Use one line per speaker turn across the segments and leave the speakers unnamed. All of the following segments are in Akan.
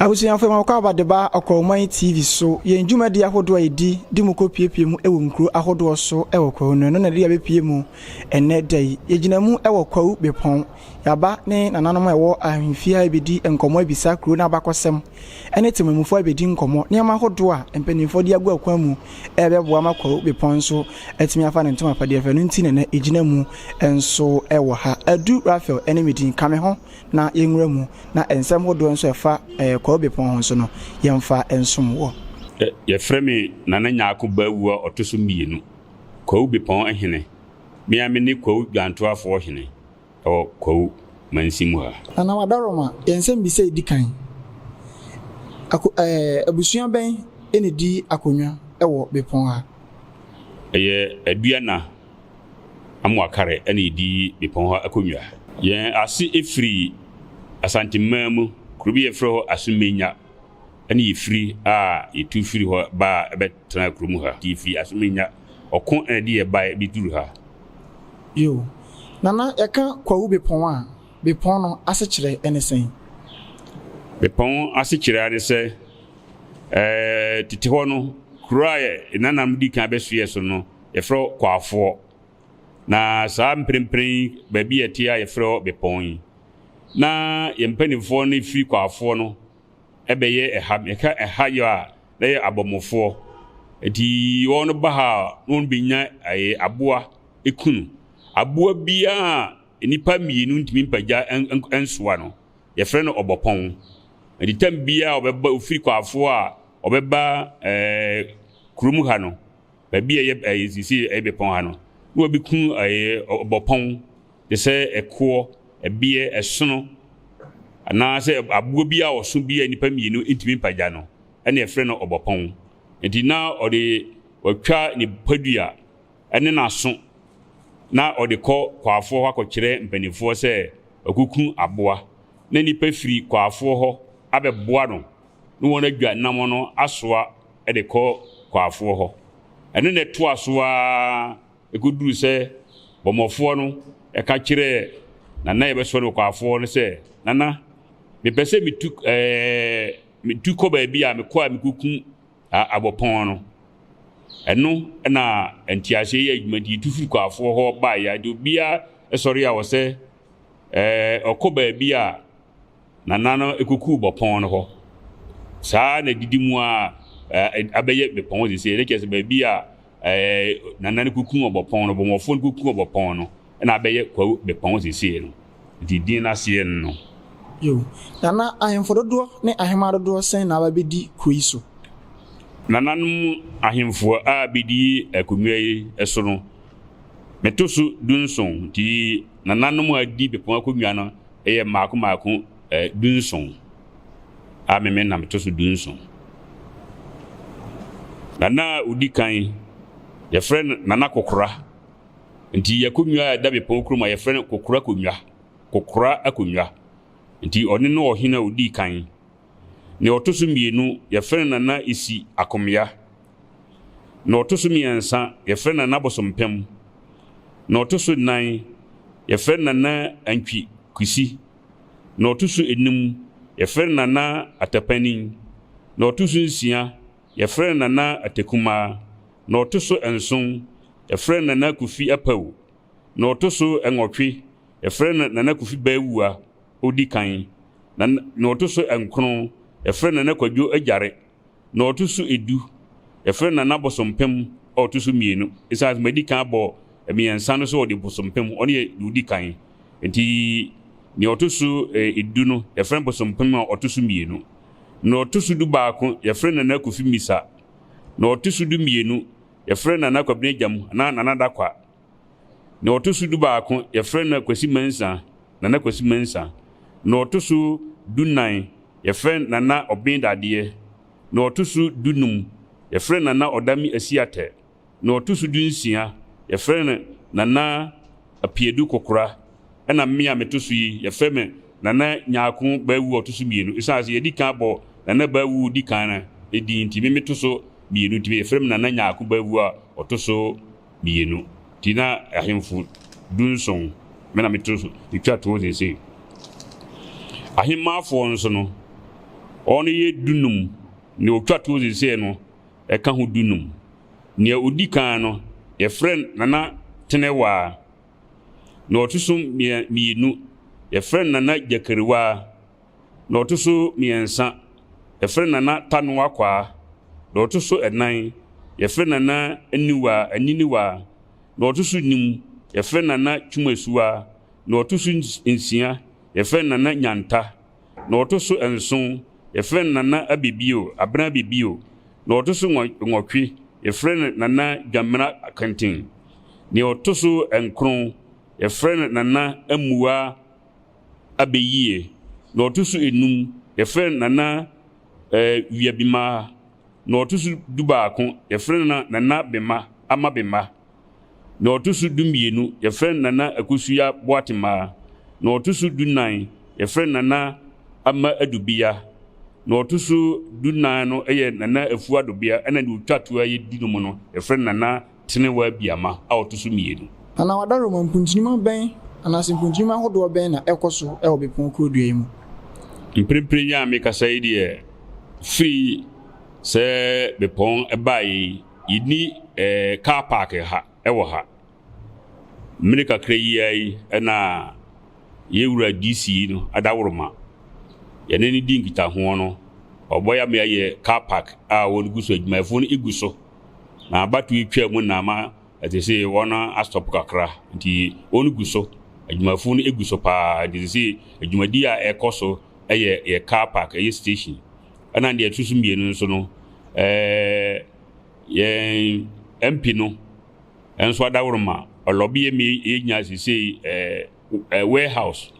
Abusuafo yɛma mo kɔaba de ba Ɔkɔrɔman TV so, yɛn dwumadi ahodoɔ a yɛdi de mo kɔ piepie mu wɔ nkuro ahodoɔ so wɔ Kwawu no, ɛno na ɛde yɛn abɛpue mu ɛnnɛ da yi. Yɛgyina mu wɔ Kwawu Bepɔn, yɛaba ne nananom a ɛwɔ ahemfie ha abɛdi nkɔmmɔ abisa kuro no abakɔsɛm ɛne temamufoɔ abɛdi nkɔmmɔ, nneɛma ahodoɔ a mpaninfoɔ de agu akwan mu ɛrebɛboa ama Kwawu Bepɔn nso atumi afa ne ntoma apadeɛ fɛ no nti na ɛnɛ yɛgyina mu nso wɔ ha. Adu Raphael ɛne me din, ka me ho. na yɛnwura mu, na nsɛm hodoɔ nso a ɛfa Kwawu Bepɔn ho nso no, yɛmfa nsom wɔ. Yɛfrɛ me
Nana Nyarko Bawuo a ɔto so mmienu, Kwawu Bepɔn hene. Me ara mene Kwawu Dwantoafoɔ hene wɔ Kwawu mansin mu ha. Nana Wadaroma,
yɛn nsɛmbisa a ɛdi kan, Ako ɛɛ abusua bɛn na ɛdi akonnwa wɔ Bepɔn ha? Ɛyɛ
Aduana. amoa kar na yedi bepɔn hɔ akonnwa. Yɛn ase firi Asanteman mu, kuro bi a yɛfrɛ hɔ Asumenya na yefiri a yetu firi hɔ baa bɛtenaa kurom ha. Nti yefiri Asumenya, ɔko na ɛde yɛn bae beduru ha. Bio,
Nana, yɛka Kwawu Bepɔn a, bepɔn no asekyerɛ ne sɛn?
Bepɔn asekyerɛ ara ne sɛ, ɛɛ, tete hɔ no, kuro a yɛn nananom dii kan bɛsoɛɛ so no, Yɛfrɛ hɔ Kwafoɔ. Na saa mprempren yi baabi a ɛte a yɛfrɛ hɔ Bepɔn yi. Na yɛn mpanimfoɔ no firi Kwafoɔ no bɛyɛ ɛha. Yɛka ɛha yɛ a na yɛ Abɔmofoɔ. Nti wɔn no ba ha a na wɔn bɛnya ɛyɛ aboa kunu. Aboa biara a nnipa mmienu ntumi mpagya nsoa no yɛfrɛ no Ɔbɔpɔn. Nti tam biara a ɔbɛba ofiri Kwafoɔ a ɔbɛba ɛɛ kurom ha no baabi a ɛyɛ ɛyɛ sisi ɛyɛ bepɔn ha no na wɔbi ku ɛyɛ ɔbɔpɔn te sɛ ɛkoɔ ɛbeɛ ɛsono anaasɛ aboɔ bi a ɔso bi a nipa mmienu ntumi mpagya no ɛna ɛfrɛ no ɔbɔpɔn nti na ɔde ɔtwa ne padua ɛne n'aso na ɔde kɔ kwaafoɔ hɔ akɔkyerɛ mpanimfoɔ sɛ ɔkuku aboa na nipa firi kwaafoɔ hɔ abɛboa no na wɔn adwa nam no asoa de kɔ kwaafoɔ hɔ. Ɛno na ɛtoa so ara kɔduruu sɛ Bɔmmɔfoɔ no ka kyerɛɛ Nana a yɛbɛsɔ no kwaafoɔ no sɛ, Nana, mepɛ sɛ metu metu kɔ baabi a mekɔ a mekɔkum Abɔpɔn no. Ɛno na nteaseɛ yi a dwumadie tu firi kwaafoɔ hɔ baeɛ a, deɛ obiara sɔre a ɔsɛ Ɛɛ, ɔkɔ baabi a nana no kuku bɔ pɔn no hɔ. Saa na didi mu a ɛɛ abɛyɛ bepɔn hɔ sisi. Ɛkyɛ sɛ baabi a ɛɛ nana no kuku ɔbɔ pɔn no, bɔmmɔfoɔ no kuku ɔbɔ pɔn no, ɛna abɛyɛ kwawu bepɔn hɔ sisi no. Nti din no aseɛ no. Yo.
Na na ahemfo dodoɔ ne ahemmaa dodoɔ sɛn na aba bɛdi kuro yi so? Nananom
ahemfo a bɛdi akonnwa yi so no, Meto so dunson, nti nananom a wɔadi bepɔn akonnwa no yɛ mmaako mmaako dunson, a me me na meto so dunson. Nana a ɔdi kan, yɛfrɛ no Nana Kokora, nti akonnwa a ɛda bepɔn kurom a yɛfrɛ no Kokora Akonnwa, Kokora Akonnwa, nti ɔno ne ɔhene a ɔdii kan. Nea ɔto so mmienu, yɛfrɛ no Nana Isi Akomya. Nea ɔto so mmiɛnsa, yɛfrɛ no Nana Bosompem. Nea ɔto so nnan, yɛfrɛ no Nana Antwi Kwesi. Nea ɔto so enum, yɛfrɛ no Nana Atapanin. Nea ɔto so nsia, yɛfrɛ no Nana Atekumaa. Nea ɔto so nson, yɛfrɛ no Nana Kofi Apawu. Nea ɔto so nwɔtwe, yɛfrɛ no Nana Kofi Bawuah. ɔdi kan, na na ɔto so nkron, yɛfrɛ no Nana Kwadwo Agyare, na ɔto so du, yɛfrɛ no Nana Bosompem a ɔto so mmienu. Ɛsiane sɛ madi kan abɔ mmiɛnsa no so ɔde Bosompem, ɔno yɛ deɛ ɔdi kan, nti deɛ ɔto so du no, yɛfrɛ no Bosompem a ɔto so mmienu. Deɛ ɔto so du baako, yɛfrɛ no Nana Kofi Misa. Deɛ ɔto so du mmienu, yɛfrɛ no Nana Kwabena Gyam anaa Nana Dakwa. Na ɔto so dubaako, yɛfrɛ no Akwasi Mensah, Nana Kwasi Mensah. Na ɔto so dunan, yɛfrɛ no Nana Ɔben Dadeɛ. Na ɔto so dunum, yɛfrɛ no Nana Ɔdame Asiatɛ. Na ɔto so dunsia, yɛfrɛ no Nana Apiadu Kokora. Ɛna me a meto so yi, yɛfrɛ me Nana Nyarko Bawuo a ɔto so mmienu. Ɛsiane sɛ yɛdi kan abɔ Nana Bawuo di kan no din nti, me meto so mmienu nti, yɛfrɛ me Nana Nyarko Bawuo a ɔto so mienu nti na ahemfo dunson me na meto so metwa toɔ seesei. Ahemmafoɔ nso no, wɔn yɛ dunum, nea ɔtwa toɔ seesei no ka ho dunum. Nea ɔdi kan no, yɛfrɛ no Nana Tenewaa. Nea ɔto so mmienu, yɛfrɛ no Nana Gyakariwaa. na ɔto so mmiɛnsa, yɛfrɛ no Nana Tano Akwaa, na ɔto so nnan, yɛfrɛ no Nana Aniwa Aniniwa, na ɔto so num, yɛfrɛ no Nana Twumasuwa, na ɔto so nsia, yɛfrɛ no Nana Nyanta, na ɔto so nson, yɛfrɛ no Nana Abebio, Abena Abebio, na ɔto so nwɔtwe, yɛfrɛ no Nana Dwamena Akenten, na ɔto so nkron, yɛfrɛ no Nana Amuwa abɛyiɛ na ɔto so enum yɛfrɛ no Nana eh, Wiabimaa na ɔto so dubaako yɛfrɛ no Nana Bema Ama Bema na ɔto so dumienu yɛfrɛ no Nana Akosuya Boatemaa na ɔto so dunan yɛfrɛ no Nana Ama Adubea na ɔto so dunan no yɛ Nana Afuadobea ɛna deɛ ɔtwa toa yɛ du no mu no yɛfrɛ no Nana Tene w'abiama a ɔto so mmienu. Anaa w'adaroma
mpuntunuma bɛn anaasɛ mpuntunuma ahodoɔ bɛn na ɛkɔ so wɔ bepɔn kurodua yi mu? Mprempren
yi a mekasa yi deɛ, firi sɛ bepɔn baeɛ yi, yɛnni car park ha wɔ ha. Mmere kakra yi ara yi na yɛn wura DC yi no, Adaworoma, yɛne no di nkitahoɔ no, ɔbɛboa yɛn ama yɛayɛ car park a wɔgu so, adwumayɛfoɔ no gu so. na abatow yi twaa mu na ama ɛte sɛ wɔn astɔp kakra nti wɔn gu so adwumafo no gu so paa nti te sɛ adwumadi a ɛkɔ so ɛyɛ yɛ car park ɛyɛ station ɛna deɛ ɛto so mmienu nso no ɛɛ yɛn mp no nso adaworoma ɔlɔbi yɛ mi yɛ nyinaa sɛ sɛ ɛɛ. warehouse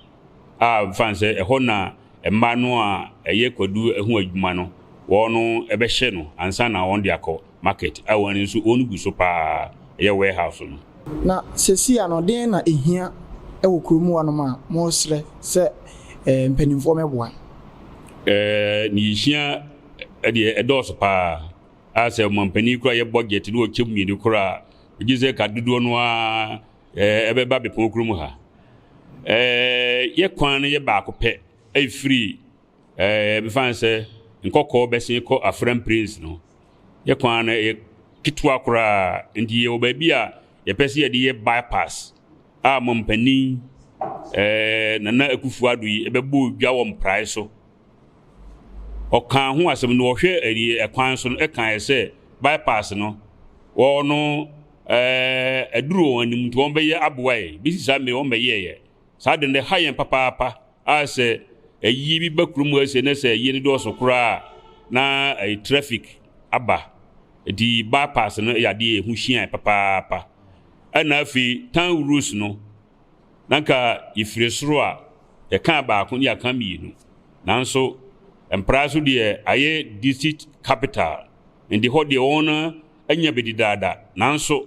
a mfa no sɛ ɛhɔ na mmaa no a ɛyɛ kwadu ho adwuma no wɔn no ɛbɛhyɛ no ansa na wɔn de akɔ market a wɔn ani nso wɔn gu so paa ɛyɛ warehouse no. Na sesia
no den na ɛhia wɔ kuro mu hɔ nom a mo srɛ sɛ mpaninfoɔ mɛ boa?
Nea ɛhia deɛ ɛdɔɔso paa a sɛ ɔmampanin kura yɛ budget na ɔkyɛ mu mmienu kora a gye sɛ ka dodoɔ no ara Ɛɛ, ɛbɛba bepɔw koro mu ha. Ɛɛ, yɛ kwan no yɛ baako pɛ, ɛfiri, ɛɛ, ɛbɛfa no sɛ nkɔkɔɔ bɛsen kɔ Afram Plains no. Yɛ kwan no yɛ ketewa koraa, nti yɛwɔ baabi a yɛpɛ sɛ yɛde yɛ bypass a Mampanin, ɛɛ, Nana Akufo Addo yi ɛbɛbɔ dwa wɔ mprae so. Ɔkaa ho asɛm no, ɔhwɛ ɛyi ɛkwan so no, ɛkaeɛ sɛ bypass no, wɔn no, ɛɛ aduru wɔn anim nti wɔbɛyɛ aboa yɛn. Besi saa mmere yi wɔmmɛyɛɛ yɛn. Saa ade no ɛha yɛn papaapa a sɛ ayie bi ba kurom ha sei na sɛ ayie no dɔɔso koraa a na ɛyɛ traffic aba. Nti bypass no yɛ adeɛ a ɛho hia yɛn papaapa. Ɛna afei town rules no na nka yɛfiri soro a yɛkaa baako ne yɛaka mmienu. Nanso Mpraa so deɛ ayɛ district capital nti hɔ deɛ wɔn Anya bedi daada, nanso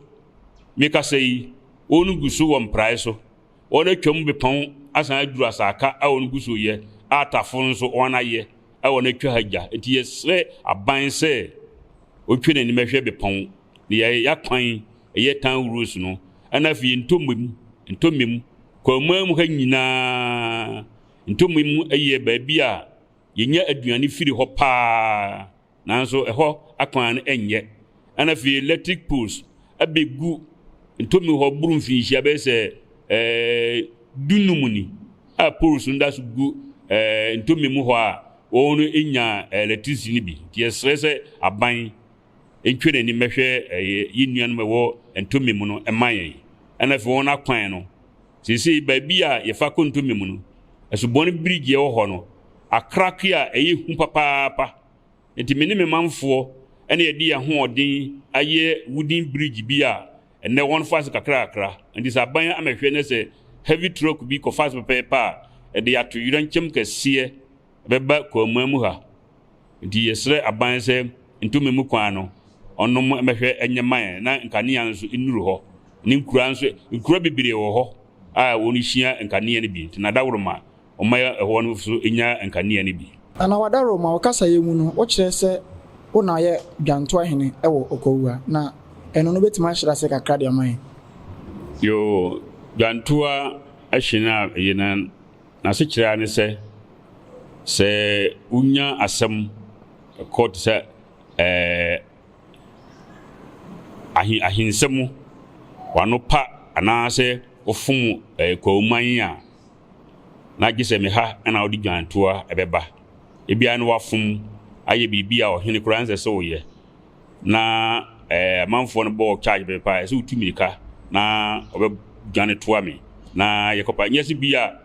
me kasa yi, wɔn gu so wɔ mprae so, wɔn atwa mu bepɔn asan aduru asaka a wɔn gu so yɛ, a tafo nso wɔn ayɛ a wɔn atwa ha gya. Enti yɛsrɛ aban sɛ wɔntwe n'anim ɛhwɛ bepɔn ne yɛayɛ akwan ɛyɛ tan roads no, ɛna afei ntɔmɛ mu, ntɔmɛ mu, kwamaa mu ha nyinaa, ntɔmɛ mu ɛyɛ baabi a yɛnya aduane firi hɔ paa. nanso ɛhɔ akwan no nyɛ. Ɛna afei electric poles abegu Ntomme hɔ boro mfinhyia bɛyɛ sɛ ɛɛ dunum ni a poles no da so gu ɛɛ Ntomme mu hɔ a wɔn nya electricity no bi. Nti yɛsrɛ sɛ aban ntwe n'ani mmɛhwɛ ɛyɛ yɛn nuanom ɛwɔ Ntomme mu no mma yɛn. Ɛna afei wɔn akwan no Seesei baabi a yɛfa kɔ ntɔmmɛ mu no, asubɔn birigye a ɛwɔ hɔ no akrakwe a ɛyɛ hu papaapa. Enti me ne me manfoɔ na yɛde yɛn ahoɔden ayɛ wooden bridge bi a ɛnnɛ wɔfa ase kakrakakra. Enti sɛ aban ammɛhwɛ na sɛ heavy truck bi kɔfa ase pɛpɛɛpɛ a, ɛde yɛ atoyerɛnkyɛm kɛseɛ bɛba Kwammua mu ha, nti yɛsrɛ aban sɛ ntomi mu kwan no ɔnom mmɛhwɛ nyɛ ma yɛn na nkanea nso nnuru hɔ ne nkura nso, nkura bebree wɔ hɔ a wɔhyia nkanea no bi, nti na Adaworoma ɔma ɛhɔ no nso nya nkanea no bi. Nana Adaworoma, wo
kasayɛ mu no wokyerɛ sɛ wo na yɛ Dwantoa Hene wɔ Okwawua, na ɛno no wobɛtumi ahyerɛ ase kakra de ama yɛn? Yoo,
Dwantoa Hene a eye no N'asekyerɛ ara ne sɛ, sɛ wonya asɛm kɔ te sɛ ɛɛ, ahensɛm mu, w'ano pa anaasɛ wofom ɛɛ Kwawoman a, na gye sɛ me ha na wode dwantoa bɛba. Ebia na wafom ayɛ biribi a ɔhene koraa nsɛ sɛ ɔyɛ. na ɛɛ amanfoɔ no bɔɔ charge bɛ paa ɛsɛ wotu mirika na ɔbɛ dwane toa me na yɛkɔ pa nyɛ se bi a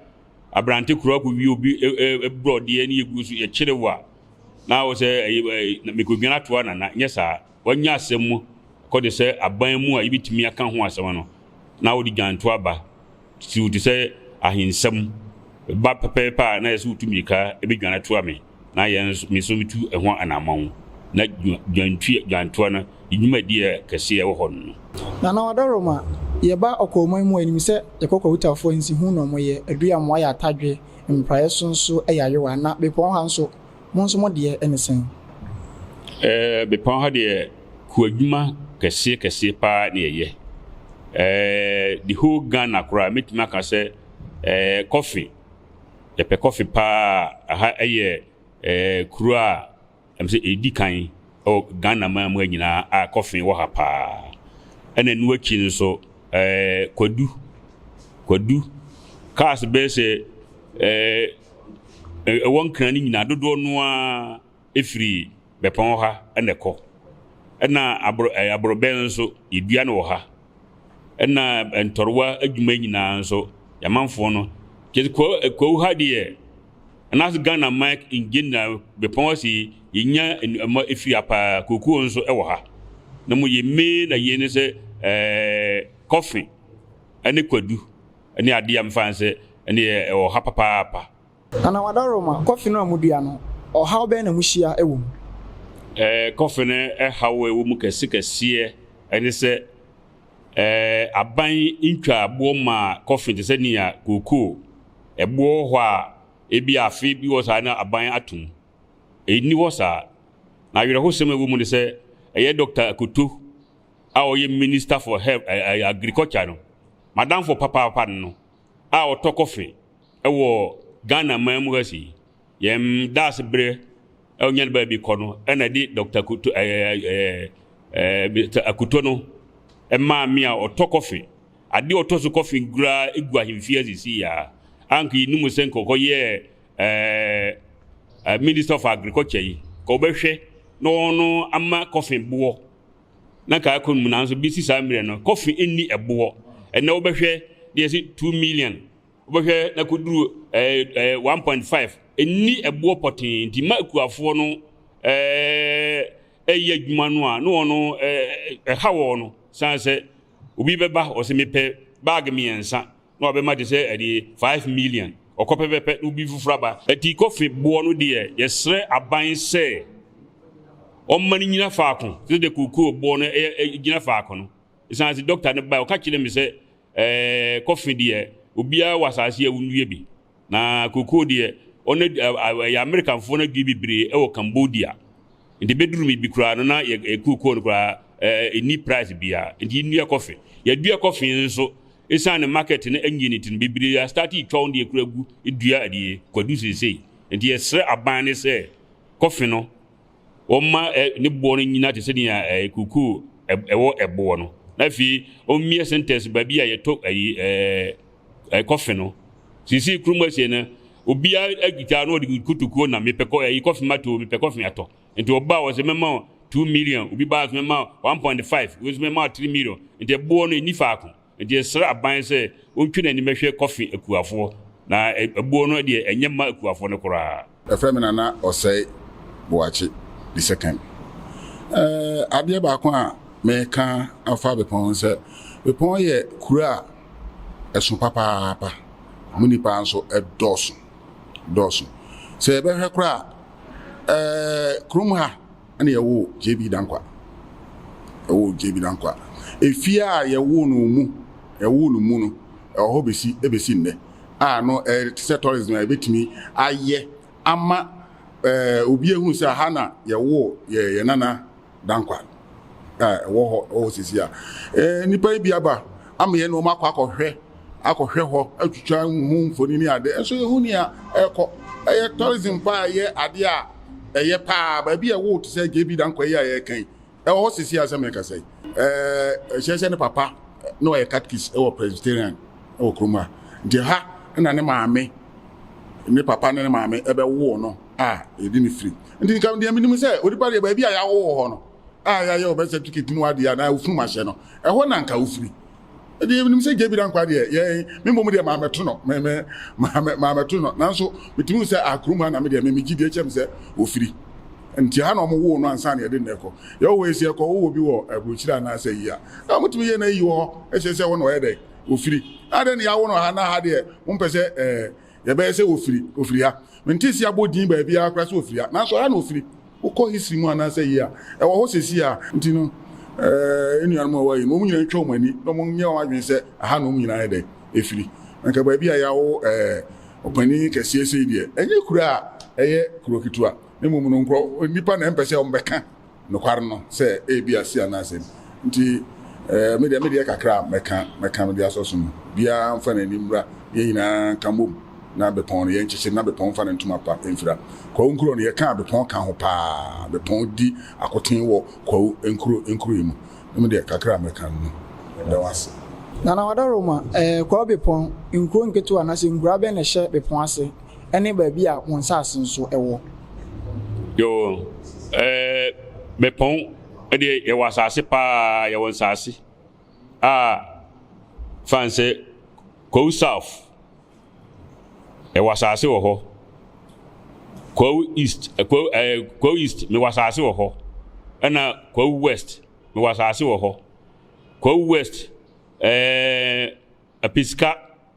aberante kura kɔ wie obi e, e, e, brɔdeɛ ne yɛguo so yɛkyere wa na wɔ sɛ mekɔdwane atoa nana nyɛ saa wanya asɛm mu kɔde sɛ aban mu a yɛbɛtumi aka ho asɛm no na wode dwane toa ba titiriw te sɛ ahensɛm, ba pɛpɛɛpɛ a na ɛsɛ sɛ wotu mmirika bedwan atoa me na yɛn nso me nso metu ɛho anammɔn. Ná dwantwi dwantoa no ne dwumadi kɛse a ɛwɔ hɔ no. Na na wɔda Rome a
yɛba ɔkwawman mu a yenim sɛ yɛkɔ Kwahutafo ansi ho na wɔyɛ aduamoa yɛ atadwe, mpraeɛ so nso yɛ ayowa. Na bepɔn ha nso, mo nso mo deɛ ne sɛn? Ɛɛ,
bepɔn ha deɛ, Kuadwuma kɛseɛ kɛseɛ paa na yɛyɛ. Ɛɛ the whole Ghana koraa mɛtumi aka sɛ ɛɛ kɔfe, yɛpɛ kɔfe paa. Aha ɛyɛ ɛɛ kuro a ɛm sɛ ɛdi kan ɛwɔ Ghana man mu ha nyinaa a kɔfe wɔ ha paa. Ɛna ɛno akyi no nso ɛɛ kwadu, kwadu, cars bɛyɛ sɛ ɛɛ ɛwɔ Nkran no nyinaa dodoɔ no ara. firi bɛpɔn hɔ ha na ɛkɔ. Ɛna aboro ɛɛ aborɔbɛn nso yɛdua no wɔ ha. Ɛna ntɔrewa adwuma nyinaa nso yɛamanfoɔ no kyɛ kɔ ɛkɔw ha deɛ anaasɛ Ghana man in general bɛpɔn hɔ se yɛnya nnuama firi ha paa kookoo nso wɔ ha. Na mmom yɛn main na yɛn ne sɛ ɛɛ kɔfe ɛne kwadu ɛne adeɛ a mefa ne sɛ ɛne ɛwɔ ha papaapa. Anawadaroma,
kɔfe no a mudua no, ɔhaw bɛn na muhyia wɔ mu?
Kɔfe no haw a ɛwɔ mu kɛsekɛseɛ ne sɛ, aban ntwa boɔ ma kɔfe te sɛ nea kookoo. Ɛboɔ wɔ hɔ a, ebia afe bi wɔ saa na aban ato mu. Ɛnni hɔ saa. Na awerɛhosɛm a ɛwɔ mu ne sɛ, ɛyɛ Dɔkta Akoto a ɔyɛ Minister for Health, Agriculture no, m'adamfo papaapa no a ɔtɔ kɔfe Wɔ Ghana man mu ha sei, yɛn daase berɛ a wonya no baabi kɔ no na ɛde Doctor Akuto ɛɛ ɛɛ ɛɛ Mister Akuto no maa me a ɔtɔ kɔfe. Adeɛ ɔtɔ so kɔfe koraa egu ahemfie ha sisi yi ara. Anka yɛnim no sɛ nka ɔkɔyɛɛ ɛɛ Minister of Agriculture yi, nka ɔbɛhwɛ na ɔno ama kɔfe boɔ na nka akɔ mu nanso besi saa mmerɛ no kɔfe nni ɛboɔ. Ɛnɛ wobɛhwɛ na yɛsi two million Wobɛhwɛ na koduru ɛɛ ɛɛ one point five. Nni ɛboɔ pɔtee nti mma akuafoɔ no ɛɛ ɛyɛ adwuma no a na wɔn no ɛɛ ɛha wɔn no san sɛ obi bɛba ɔsɛ mepɛ bag mmiɛnsa na wabɛma te sɛ ɛde five million ɔkɔ pɛpɛpɛ na obi foforɔ aba. Ɛti kɔfe boɔ no deɛ yɛsrɛ aban sɛ ɔmma no nyina faako te sɛ deɛ kokoo boɔ no ɛyɛ ɛgyina faako no. Ɛsan sɛ dɔkta no baɛ ɔka kyerɛ me sɛ. ɛɛ, kɔfe deɛ, obiara wɔ asase yi a wonnua bi. Na kokoo deɛ, ɔno adu, a, a, ɛyɛ Amerikanfoɔ no adua bebree wɔ Cambodia. Nti bɛduru me bi koraa no, na yɛ, kokoo no koraa, ɛɛ, ɛnni price biara. Nti yennua kɔfe. Yɛadua kɔfe nso, ɛsiane ne market no annye no nti no, bebree astarte retwa wɔn deɛ koraa gu dua, ɛdeɛ, kwadu seesei. Nti yɛsrɛ aban no sɛ, kɔfe no, Ɔmma ɛ, ne boɔ no nnyina te sɛ nea ɛ, kukuo ɛ, ɛwɔ ɛboɔ no. Na afei, ɔmmie sentɛnse baabi a yɛtɔ ayi ɛ, ɛ, kɔfe no. Seesei kurom asie no, obiara akita na ɔde kotokuo nam, mepɛ kɔ, ayi kɔfe matɔ o, mepɛ kɔfe atɔ. Nti ɔbaa hɔ sɛ, mɛma wo two million, obi baa nso mɛma wo one point five, obi nso mɛma wo three million. Nti ɛboɔ no, ɛnni faako. Enti yɛsrɛ aban sɛ ontwe n'anim hwɛ kɔfe akuafoɔ na ɛboɔ no deɛ ɛnyɛ mma akuafoɔ no koraa. Yɛfrɛ me Nana
Osei Boakye the second. Adeɛ baako a meka afa Bepɔn ho sɛ, Bepɔn yɛ kuro a ɛso papaapa, mo nnipa nso ɛdɔɔso dɔɔso. Sɛ yɛbɛhwɛ koraa a, kurom ha, Ɛna yɛwoo JB Dankwah. Yɛwoo JB Dankwah. Efie a yɛwoo no mu, yɛwoo no mu no, ɛwɔ hɔ besi ebesi nnɛ. A no ɛyɛ te sɛ tourism a yɛbɛtumi ayɛ ama ɛɛ obi ehu sɛ ha na yɛwoo yɛ yɛ nana Dankwah. A ɛwɔ hɔ ɛwɔ hɔ sisi a. Ɛɛ nnipa yi bi aba ama yɛn na wɔn akɔ akɔhwɛ. akɔhwɛ hɔ atwitwa ho mfoni ne ade nso yɛhu nea ɛrekɔ. Ɛyɛ tourism paa a ɛyɛ ade a ɛyɛ paa. Baabi a ɛwoo te sɛ JB Danquah yi a yɛreka yi, ɛwɔ hɔ sisi a sɛ mekasa yi. Ɛɛ hyɛ sɛ ne papa na ɔyɛ catechist wɔ Presbyterian wɔ kurom ha. Nti ha na ne maame, ne papa ne ne maame ɛbɛwoo no a yɛde ne firi. Nti nka deɛ menim sɛ onipa deɛ baabi a yɛawo wɔ hɔ no a yɛayɛ wɔ bɛ certificate ne wadeɛ a na ofunu mahyɛ no, ɛhɔ na nka ofiri. Ɛdeɛ yɛnim sɛ JB Dankwah deɛ yɛn me mmom deɛ maamɛto no me me maamɛ maamɛto no nanso metumi hu sɛ akrom ha na me deɛ me megye deɛ kyɛm sɛ ofiri nti ha na wɔn woo no ansa na yɛde nnɛ kɔ yɛwɔ hɔ esi ɛkɔ wowɔ bi wɔ aburokyire anaasɛ yi a na wɔtumi yɛ na eyi wɔ hɔ ɛkyerɛ sɛ hɔ na ɔyɛ dɛ ofiri adɛ na yɛawo no ha na ha deɛ wɔn pɛ sɛ ɛɛ Yɛbɛyɛ sɛ ofiri, ofiri ha. Mentee sɛ yɛabɔ din baabiara koraa sɛ ofiri ha, nanso ɛha na ofiri. Wokɔ history mu anaasɛ yi a ɛwɔ hɔ seesei a nti no, eh, yɛn nuanom a wɔayɛ no, wɔn nyinaa ntwa wɔn ani na wɔnyɛ wɔn adwene sɛ ɛha na wɔn nyinaa yɛ dɛn? Efiri. Anka baabi a yɛawo, eh, ɔpanin kɛseɛ sei deɛ, ɛnyɛ kuro a ɛyɛ kuro ketewa, na mmom no nkurɔ, nnipa na ɛmpɛ sɛ wɔbɛka. nokware no sɛ ebia Sia no asɛm nti ɛɛ me deɛ me deɛ kakra a mɛka mɛka mede asɔ so no biara mfa n'ani mmra na yɛn nyinaa nka mmom na Bepɔn no yɛnkyekyere na Bepɔn mfa ne ntoma pa mfira Kwawu Nkurɔ no yɛkaa Bepɔn ka ho paa Bepɔn di akoten wɔ Kwawu Nkurɔ Nkurɔ yi mu na me deɛ kakra a mɛka no no meda wo ase. Nana Wadaroma,
ɛɛ Kwawu Bepɔn nkuro nketewa anaasɛ nkuraa bɛn na ɛhyɛ Bepɔn ase? Ɛne baabi a wo nsase nso wɔ. Yoo
ɛɛ bɛpɔn deɛ yɛwɔ asase paa yɛwɔ nsase a fan sɛ kwawu south yɛwɔ asase wɔ hɔ kwawu east kwawu ɛɛ kwawu east mewɔ asase wɔ hɔ ɛna kwawu west mewɔ asase wɔ hɔ kwawu west ɛɛ apesika.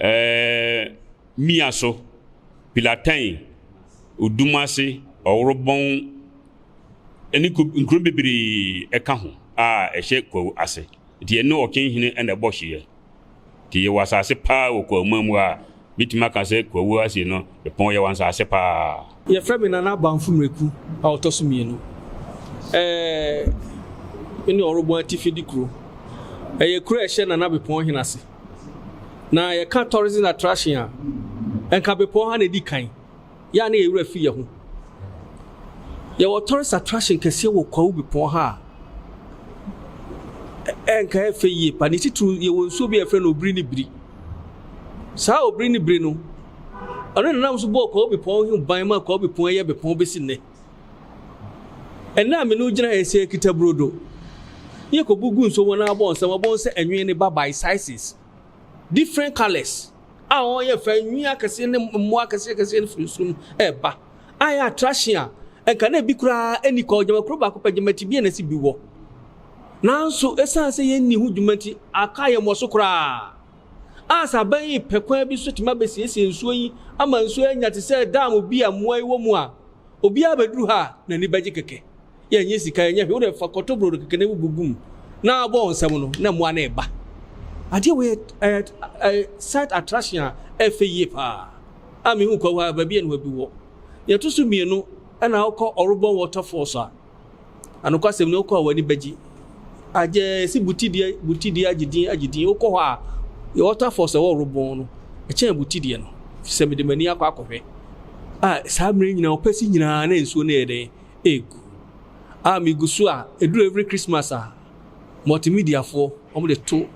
Ɛɛ Mia so, Pilatɛn, Odumase, Ɔworobɔn ne nkuro bebree ka ho a ɛhyɛ Kwawu ase. Nti yɛne Ɔkyenhene na ɛbɔ hyeɛ. Nti yɛwɔ asase paa wɔ Kwawu-man mu a mɛtumi aka sɛ Kwawu ase no Epɔn yɛwɔ nsase paa. Yɛfrɛ me Nana
Bamfo Mreku a ɔtɔ so mmienu. Ɛɛ Me ne Ɔworobɔn atifi de kuro. Ɛyɛ kuro a ɛhyɛ Nana Bepɔn hene ase. Na yɛka tourism attraction a, nka bepɔw ha na edi kan. Yɛ a na yɛn werɛ fi yɛn ho. Yɛwɔ tourist attraction kɛseɛ wɔ Kwawu bepɔw ha a ɛnka ɛyɛ fɛ yie pa. Ne titiriw yɛwɔ nsuo bi a yɛfrɛ no Obiri ne Biri. Saa Obiri ne Biri no, ɔno na nam so bɔɔ Kwawu bepɔw ho ban maa Kwawu bepɔw yi yɛ bepɔw besi nnɛ. Ɛnna a me ne wo gyina ha yi sɛ yɛkita burodo, na yɛkɔbu gu nsuo mu na abɔ nsɛm, wɔbɛhu sɛ ɛnwene ne babae, sizes, different colours, a wɔyɛ fɛ, nwi akɛseɛ ne mmoa akɛseɛ akɛseɛ no firi nsuo mu ɛreba. Ayɛ attraction a, ɛnka na ebi koraa ɛni kɔ, gyama kuro baako pɛ, gyama tibea na ɛsi bi wɔ. Nanso, ɛsiane sɛ yɛnni ho dwuma nti, aka yɛn mmɔ so koraa. A sɛ aban yi pɛ kwan bi so tumi abɛsiesie nsuo yi ama nsuo anya te sɛ dam bi a mmoa yi wɔ mu a, Obiara bɛduru ha a, n'ani bɛgye kɛkɛ. Yɛnyɛ sika, yɛnyɛ hwee. Wo deɛ fa kɔtɔ brodo kɛkɛ na bubu gu mu na bɔ wɔn nsam no, na mmoa no reba. Adeɛ wei yɛ site attraction a ɛyɛ fɛ yie paa a mehu Kwahu ha, baabi a nnuabi wɔ. Deɛ ɛto so mmienu, ɛna wokɔ Ɔrobɔn Waterfalls a, Na nokwasɛm ni, wokɔ a w'ani bɛgye. Agyɛ si butideɛ butideɛ agye din agye din. Wokɔ hɔ a, yɛ waterfalls a ɛwɔ Ɔrobɔn no, ɛkyɛn butideɛ no, ɛfiri sɛ mede m'ani akɔ akɔhwɛ. A saa mmerɛ nyinaa, ɔpɛsi nyinaa na nsuo no yɛ dɛn? Ɛregu. A megu so a, ɛduru every Christmas a, multimediafoɔ, wɔde to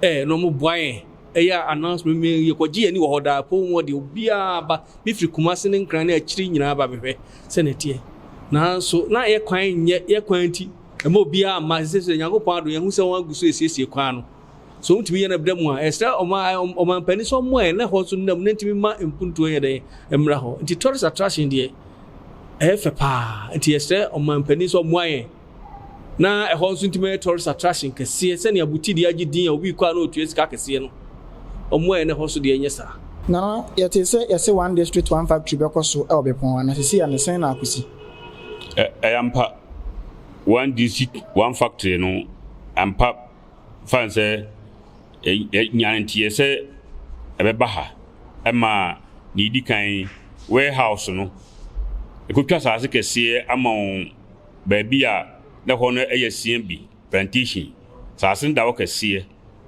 ɛ na wɔboa yɛn Ɛyɛ a announcement me yɛ kɔ gye ani wɔ hɔ daa apɔw mu hɔ deɛ obiara ba me firi Kumasi ne Nkran ne akyiri nyinaa ba me hwɛ sɛnea ɛteɛ nanso na yɛ kwan nyɛ yɛ kwan nti ɛma obiara mma sɛ sɛ Nyankopɔn adom yɛhu sɛ wɔn agu so ɛsiesie kwan no sɛ wɔn tumi yɛ no ɛbda mu a ɛsrɛ ɔman ɔman panin sɛ ɔmo a ɛnɛ hɔ nso nnam ne ntumi ma mpuntuo yɛ dɛn mmra hɔ nti tourist attraction deɛ ɛyɛ fɛ paa nti yɛsrɛ ɔman panin sɛ ɔmoa yɛn. Na ɛhɔ nso ntumi yɛ tourist attraction kɛseɛ sɛnea Buti deɛ agye din a obi rekɔ a na ɔtua sika kɛseɛ no, wɔn a ɛna ɛhɔ nso deɛ ɛnyɛ saa. Na na yɛtee
sɛ yɛse one district one factory bɛkɔ so wɔ Bepɔn ha, na seesei ɛno sɛn na akɔsi? Ɛyɛ
ampa, one district one factory no ampa fa no sɛ yɛnyaa nteɛ sɛ ɛbɛba ha ma deɛ ɛdi kan, warehouse no, ɛkɔtwa asaase kɛseɛ ama wɔn. baabi a na hɔ no yɛ sian bi, plantation, asase no da hɔ kɛseɛ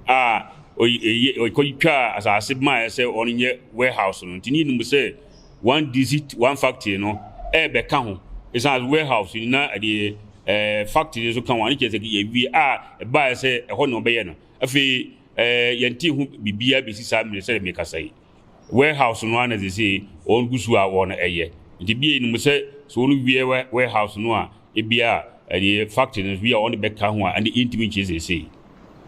a ɔkɔtwaa asase bi maeɛ sɛ ɔno nyɛ warehouse no nti ne nim sɛ one district one factory no ɛbɛka ho ɛsiane sɛ warehouse no na ɛdeɛ ɛɛ factory nso ka ho ano kyerɛ sɛ yɛwie a ɛbaeɛ sɛ ɛhɔ na ɔbɛyɛ no afei ɛɛ yɛnte ho biribiara bɛsi saa mmerɛ sɛ mekasa yi warehouse no ara na sesei wɔn gu so a wɔn ɛyɛ. Nti ebia yɛnim sɛ sɛ wɔn wie warehouse no a ebia ɛdeɛ factory no nso bi a wɔn de bɛka ho a ɛnde yɛntumi nkyerɛ sesei.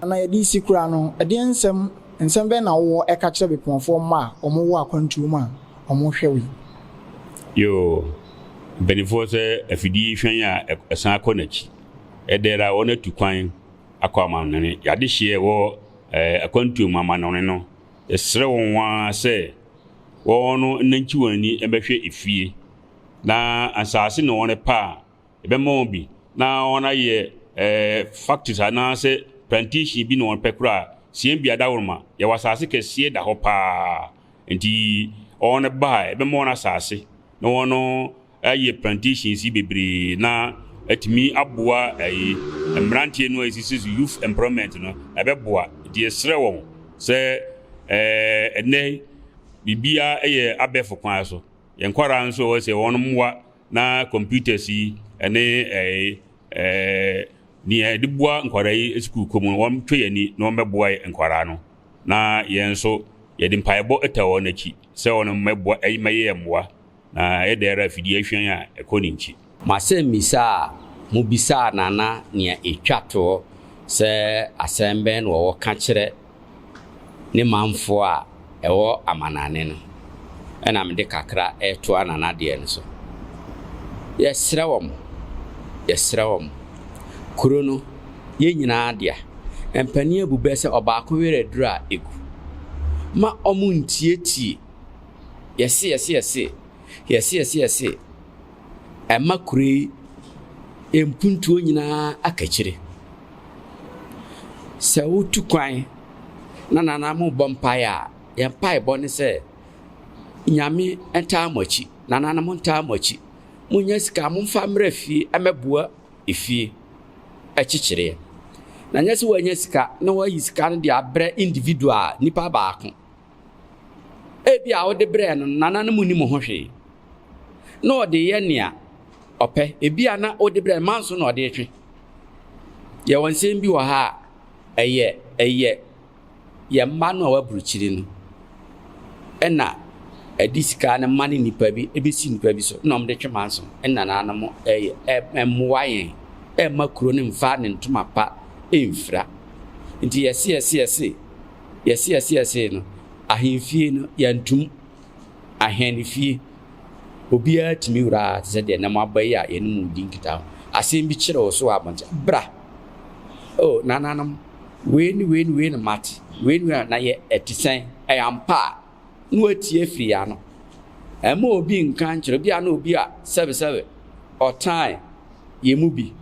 Na yɛde resi
koraa no, ɛdeɛn nsɛm, nsɛm bɛn na wowɔ ɛka kyerɛ Bepɔnfoɔ mma a wɔn wɔ akwantuo mu a wɔn rehwɛ wo yi? Yoo,
mpaninfoɔ sɛ afidie hwan a ɛsan akɔ n'akyi. Ɛdɛɛrɛ a wɔn atu kwan akɔ amanɔne. Y'adehyeɛ ɛwɔ ɛɛ akwantuo mu amanɔne no. Yɛsrɛ wɔn ara sɛ wɔnnankyi wɔn ani mmɛhwɛ efie, na nsaase na wɔrepɛ a, yɛbɛma wɔn bi, na wɔayɛ factories anaasɛ plantation bi na wɔpɛ koraa a, Siembia Dagoroma, yɛwɔ asaase kɛseɛ da hɔ paa, nti wɔba a, yɛbɛma wɔn asaase na wɔn Ayɛ plantations yi bebree na atumi aboa ɛyi mmeranteɛ no a ɛsisi so youth employment no ɛbɛboa nti yɛsrɛ wɔn sɛ ɛnɛ biribia ɛyɛ abɛɛfo kwan so yɛn nkwadaa nso ɛwɔ sɛ wɔn mmoa na computers yi ɛne ɛyi nea ɛde boa nkwadaa yi sukuu kɔ mu wɔn twɛ yɛn ani na wɔn bɛboa yɛ nkwadaa no na yɛn nso yɛde mpaebɔ ɛta wɔn akyi sɛ wɔn mmɛboa ɛyi mɛyɛ mmoa Na ɛyɛ dɛ ara afidie ahwian a ɛkɔ ne nkyi. M'asɛmmisa a
mobisaa Nana nea ɛtwa toɔ sɛ asɛm bɛn na ɔwɔ ka kyerɛ ne manfoɔ a ɛwɔ amanane no na mede kakra retoa Nana deɛ no so. Yɛsrɛ wɔn, yɛsrɛ wɔn, kuro no yɛn nyinaa dea, mpanin abu bɛ sɛ ɔbaako werɛ aduru a ɛgu. Ma wɔntiatie. Yɛse yɛse yɛse yɛse yɛse yɛse ɛma kuro yi mpuntuo nyinaa akakyire. Sɛ wotu kwan na nana mo bɔ mpaeɛ a, yɛn mpaebɔ ne sɛ nyame ntaa mo akyi, nana no mo ntaa mo akyi. Monya sika momfa mmra fie ɛmɛboa efie ɛkyekyereɛ. Na nyɛ sɛ woanya sika na woayi sika no de abrɛ individual nipa baako. Ebia wode brɛɛ no no, nananom nni mo ho hwee. Na ɔde yɛ nea ɔpɛ. Ebia na wode brɛɛ no, manso na ɔde twe. Yɛwɔ nsɛm bi wɔ ha a, ɛyɛ ɛyɛ yɛn mma no a wɔaburukyiri no ɛna ɛde sika no ma ne nnipa bi ebesi nnipa bi so na wɔde twe manso ɛna nananom ɛyɛ ɛmmoa yɛn ɛmma kuro no mfa ne ntoma pa ɛmfira nti yɛse yɛse yɛse yɛseɛseɛsee no, ahemfie no, yɛantom. Ahene fie, obiara tumi wuraa te sɛ deɛ nnɛ moaba yi a yɛne mo redi nkitaho. Asɛm bi kyere wo so wɔ abɔnten, bra! O nananom, wei ne wei ne wei na mate, wei ne wei na yɛ, ɛte sɛn? Ɛyɛ ampa a? na woetie fii yɛn ano. Mma obi nnka nnkyerɛ, bi a nna obi a sɛbesɛbe ɔtan yɛn mu bi,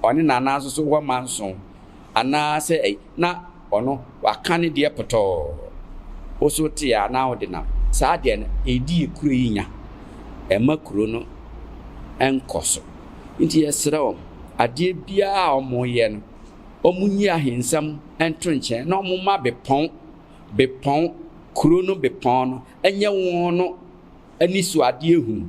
ɔne n'ananso so hɔ manson, anaasɛ ei, na ɔno ɔaka ne deɛ pɔtɔɔ. Wo so wote a na wode nam. Saa adeɛ no, edi yɛn kuro yi nya. Ɛmma kuro no nkɔ so. Nti yɛsrɛ wɔn, adeɛ biara a wɔyɛ no, wɔnyi ahensɛm nto nkyɛn na wɔmma bepɔn. bepɔn, kuro no bepɔn no, nyɛ won no anisoadeɛ hunu,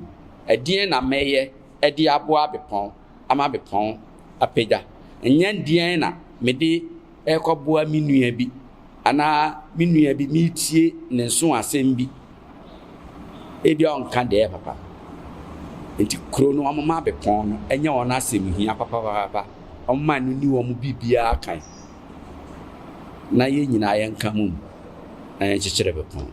Ɛdeɛn na mɛyɛ de aboa bepɔn ama bepɔn apagya? Nyɛ deɛn na mede rekɔboa me nua bi, anaa me nua bi meretie ne nso asɛm bi, ebia ɔnka deɛ ɛyɛ papa. Nti kuro no wɔma bepɔn no nyɛ wɔn asɛm hia papapaapa, wɔma no ni wɔn biribiara kan. na yɛn nyinaa yɛnka mo mu na yɛnkyekyere bepɔw no.